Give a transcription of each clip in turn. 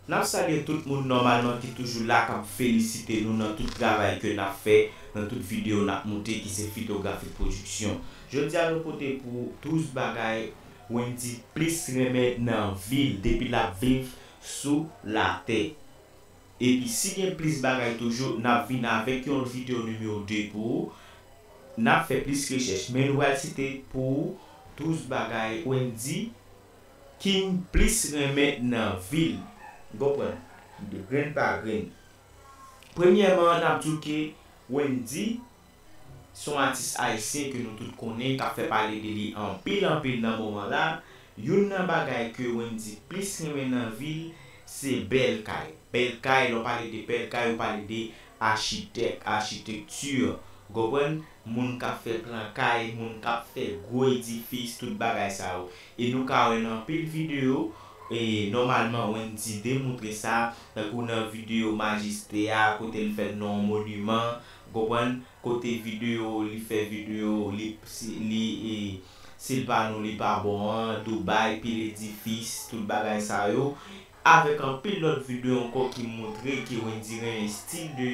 Nap salye tout moun nòmalman ki toujou la kap felisite nou nan tout travay ke nap fè nan tout video nap moute ki se Fitografik Production. Jodia nou pote pou 12 bagay Wendy plis renmen nan vil depi lap viv sou latè. Epi si gen plis bagay toujou nap vin avek yon lot video numero 2 pou ou, nap fè plis rechèch men nou pral site pou ou 12 bagay Wendy king plis renmen nan vil ou konprann de grenn pa grenn premyèman nap diw ke Wendy Se yon atis ayisyen ke nou tout konnen kap fè pale de li anpil anpil nan moman la, youn nan bagay ke Wendy plis renmen nan vi l se bèl kay, bèl kay lè w pale de bèl kay ou pale de achitèk, achitekti ou konprann, moun kap fè plan kay, moun kap fè gwo edifis tout bagay sa yo e nou ka wè nan anpil videyo e nòmalman Wendy demoutre sa tankou nan videyo majistre a kote l fè nan yon moniman Ou konprann? Kote video li fè video li li si l pa nou li pa bon an, Dubai, pil edifis, tout bagay sa yo. Avèk anpil lòt video ankò ki moutre ke Wendyy renmen stil de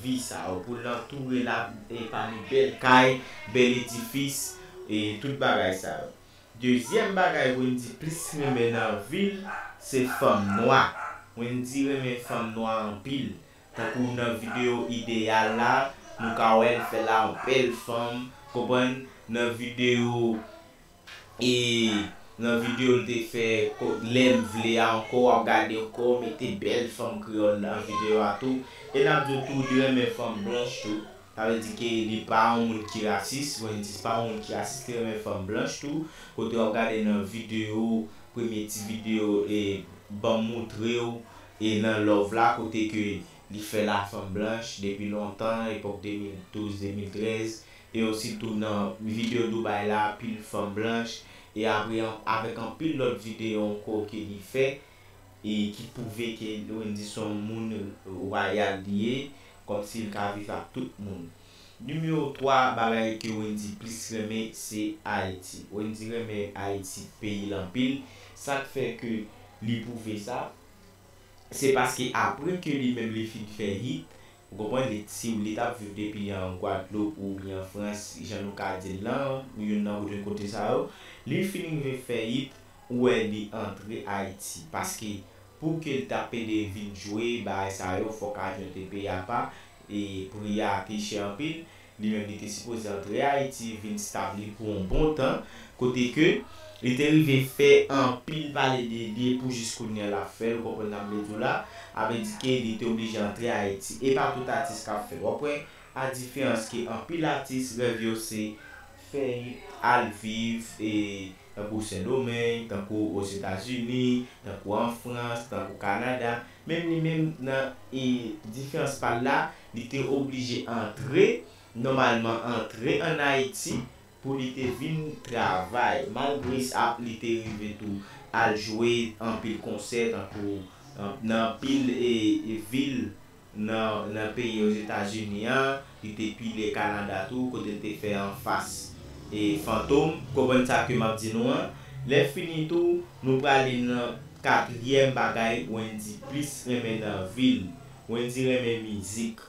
vi sa yo. Pou l antoure l ak pami bèl kay, bèl edifis, e tout bagay sa yo. Dezyèm bagay Wendyy plis renmen nan vi l, se fanm nwa. Wendyy renmen fanm nwa anpil. Tankou nan video ideyal la nou ka wè l fè la anpil fanm konprann nan video e nan video l te fè lè m vle a ankò wap gade ankò ou mete bèl fanm kreyòl nan video a tou e nap di w tou li renmen fanm blanch tou sa vle di ke li pa yon moun ki rasis Wendyy pa yon moun ki rasis li renmen fanm blanch tou kote wap gade nan video premye ti video e banm moutre w E nan love la kote ke li fè la fanm blanch depi lontan epòk 2012 2013 e osi tou nan video Dubai la pil fanm blanch e apre avèk anpil lòt video ankò ke li fè e ki pwouve ke Wendyy son moun royal li ye kòmsi li ka viv ak tout moun. Numero 3 bagay ke Wendy plis renmen se Ayiti. Wendy renmen Ayiti peyi l anpil. Sak fè ke li pwouve sa, se paske apre ke li menm li fin fè hit, ou konprann, li t si li t ap viv depi an Gwadloup oubyen an Frans, jan nou ka di l lan, youn nan de kote sa yo, li l fin rive fè hit, ou wè li antre Ayiti. Paske pou ke l ta pede vin jwe bagay sa yo, fòk avyon te peye apa, E pri a te chè anpil. Li menm li te sipoze antre Ayiti vin stabli pou yon bon tan, kote ke li te rive fè anpil pale de li e pou jis kounye a l ap fè l, ou konprann sa m vle di w la, a vle di ke li te oblije antre Ayiti. E pa tout atis k ap fè l. W ap wè a diferans ke anpil atis rèv yo se fè it, al viv e. tankou Sendomeng, tankou Ozetazini, tankou an Frans, tankou Kanada, menm li menm nan diferans pa l la, li te oblije antre, nòmalman antre an Ayiti pou li te vin travay. Malgre sa, li te rive tou al jwe anpil konsè tankou nan anpil vil. nan peyi Ozetazini an, li te pile Kanada tou kote l te fè anfas Fantom. Konprann sa ke m ap di nou an. Lè fini tou, nou prale nan katriyèm bagay Wendy plis renmen nan vi l. Wendy renmen mizik.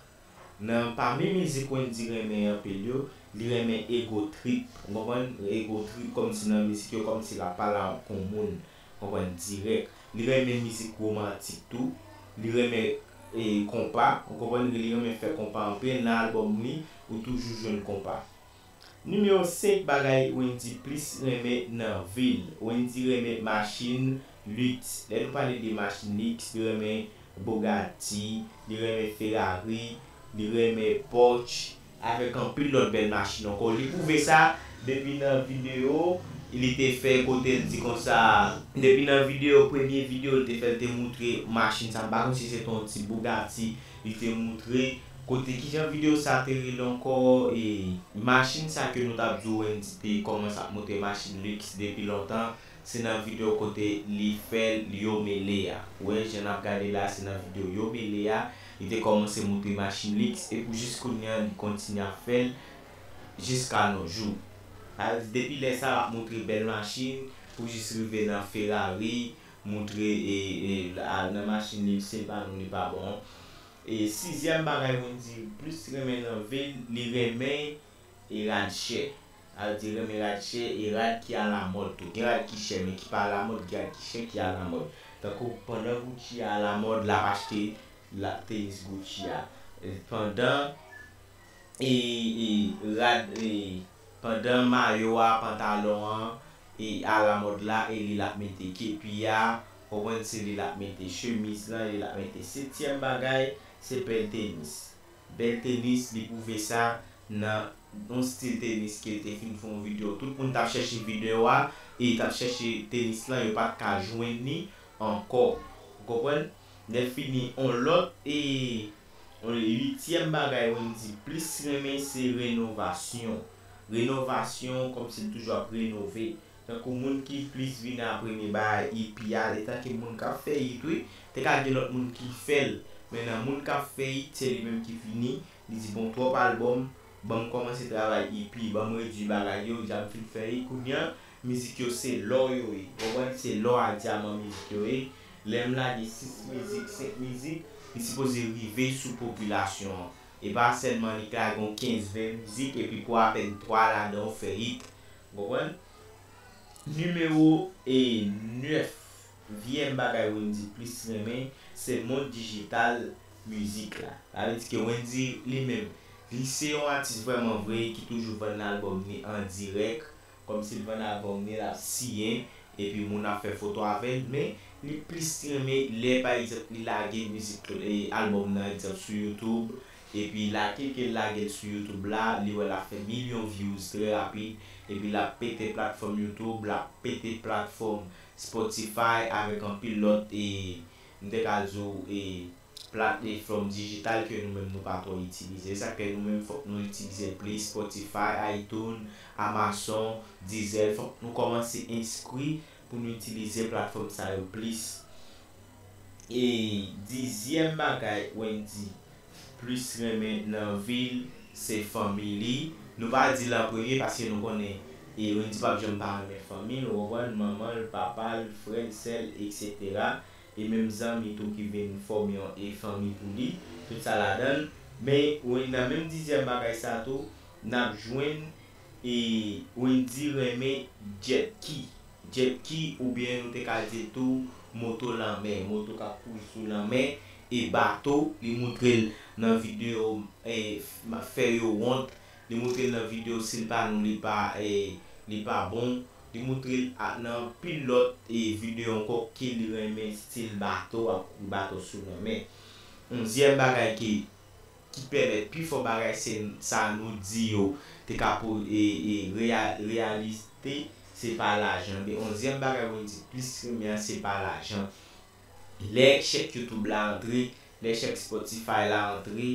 Nan pami mizik Wendy renmen anpil yo, li renmen Ego Trip. Ou konprann? Ego Trip kòmsi nan mizik yo kòmsi l ap pale ak yon moun. konprann dirèk li renmen mizik romantik tou li renmen konpa ou konprann li renmen fè konpa anpil nan album li ou toujou jwenn konpa Nimewo 5 bagay Wendy plis renmen nan vil Wendy renmen machin luxe lè nou pale de machin luxe li renmen Bugatti li renmen Ferrari li renmen Porsche avèk anpil lòt bèl machin ankò, li pwouve sa depi nan videyo li te fè kote l di konsa. Depi nan videyo, premye videyo li te fè li te moutre machin sa, m pa konn si se te yon ti Bugatti li te moutre, kote kijan videyo sa te rele ankò ee. Machin sa ke nou t ap di w Wendy te kòmanse ap moutre machin liks depi lontan. Se nan video kote li fèl yo mele a. Wè jan nap gade la se nan video yo mele a li te kòmanse moutre machin lix e pou jis kounye an li kontinye ap fèl jis ka no jou. Sa vle di depi lè sa lap moutre bèl machin pou jis rive nan ferrari moutre e al nan machin lix sil pa nou li pa bon. E sizyèm bagay Wendyy plis renmen nan vil li renmen e radchè. Sa yo te renmen rad chè e rad ki alamòd tou. Gen rad ki chè men ki pa alamòd, gen rad ki chè ki alamòd. Tankou pandan Gucci a alamòd l ap achte tenis Gucci a. Pandan rad pandan mayo a, pantalon an alamòd la e li l ap mete. Kepi a ou konprann se li l ap mete, chemiz lan li l ap mete. Setyèm bagay se pèl tenis. Bèl tenis li pwouve sa nan yon stil tenis ke l te fin fè yon video tout moun tap chèche video a e tap chèche tenis lan yo pat ka jwenn li ankò ou konprann lèfini yon lòt e yon uityèm bagay Wendy plis renmen se renovasyon renovasyon kòmsi l toujou ap renove Tankou moun ki plis vini an premye bay epi al etanke moun kap fè it wi, te ka gen lòt moun ki fèl men nan moun kap fè it se li menm ki vini li di bon twòp album banm kòmanse travay ep banm redwi bagay yo deja m fin fè it kounya mizik yo se lò yo ye ou konprann se lò a dyaman mizik yo ye lèm lage 6 mizik 5 mizik li sipoze rive sou popilasyon an epa sèlman li k lage yon 15 20 mizik epi pou apèn 3 ladan ou fè it. Ou konprann? Nimewo 9 vm bagay Wendy plis renmen se mond dijital mizik la. Sa vle di ke Wendy li menm li se yon atis vrèman vre ki toujou vann album ni an dirèk kòm si l vann album ni l ap siyen epi moun ap fè foto avè l men li plis renmen lè pa egzanp li lage mizik album nan egzanp sou youtube Epi la kilkel lagel sou YouTube la li wè lap fè milyon views trè rapid epi lap pete platfòm YouTube lap pete platfòm Spotify avèk anpil lòt e mte ka di w e plat e fòm digital ke nou menm nou pa twò itilize esak fè nou menm fòk nou itilizel plis Spotify iTunes Amazon Deezer fòk nou kòmanse enskri pou nou itilize platfòm sa yo plis. E dizyèm bagay Wendy plis renmen nan vi l se fanmi li. Nou pa di l an premye paske nou konnen Wendy p ap janm pa renmen fanmi l ou konprann, manman l, papa l, frè l, sè l eksetera. E menm zanmi tou ki vin fòme yon fanmi pou li, tout sa ladan l. Men nan menm dizyèm bagay sa tou n ap jwenn E Wendy renmen Jet Ki, Jet Ki oubyen nou te ka di l tou moto lanmè, moto k ap kouri sou lanmè e bato, li moutre l nan videyo m ap fè yo wont, li moutre l nan videyo si l pa nou li pa bon, li moutre l nan anpil lòt videyo ankò ke li renmen stil bato, ap kouri bato sou lanmè. Onzyèm bagay ke. ki pèmèt pi fò bagay se sa nou di yo te ka po e e reya reyalite se pa lajan anben onzyèm bagay Wendyy plis renmen an se pa lajan lè chèk youtube la antre lè chèk spotify la antre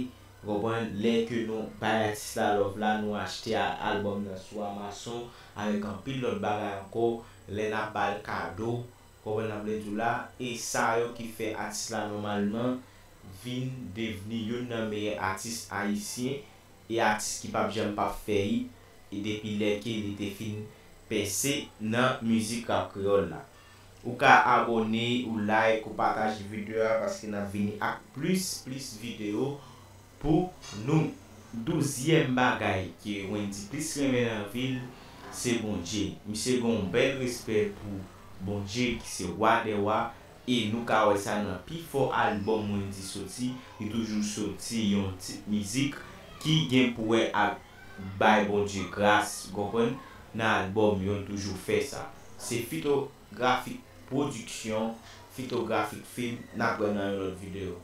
ou konprann lè ke nou bay atis la love la nou achte a album nan sou amazon avèk anpil lòt bagay ankò lè nap bal kado Konprann sa m vle di w la, e sa yo ki fè atis la nòmalman vin devni youn nan meyè atis ayisyen e atis ki pap janm pap feyit e depi lè ke li te fin pèse nan mizik rap kreyòl la. Ou ka abòne, ou like, ou pataje videyo a paske n ap vini ak plis plis videyo pou nou. Douzyèm bagay ke Wendy plis renmen nan vil se Bondye. Misye gen yon bèl respè pou Bondye ki se Wa dè Wa e nou ka wè sa nan pi fò album Wendy soti, li toujou soti yon tit mizik ki gen pou wè ak bay Bondye gras ou konprann nan album yo l toujou fè sa. Se Fito Grafik Pwodiksyon, Fito Grafik Film nap wè nan yon lòt video.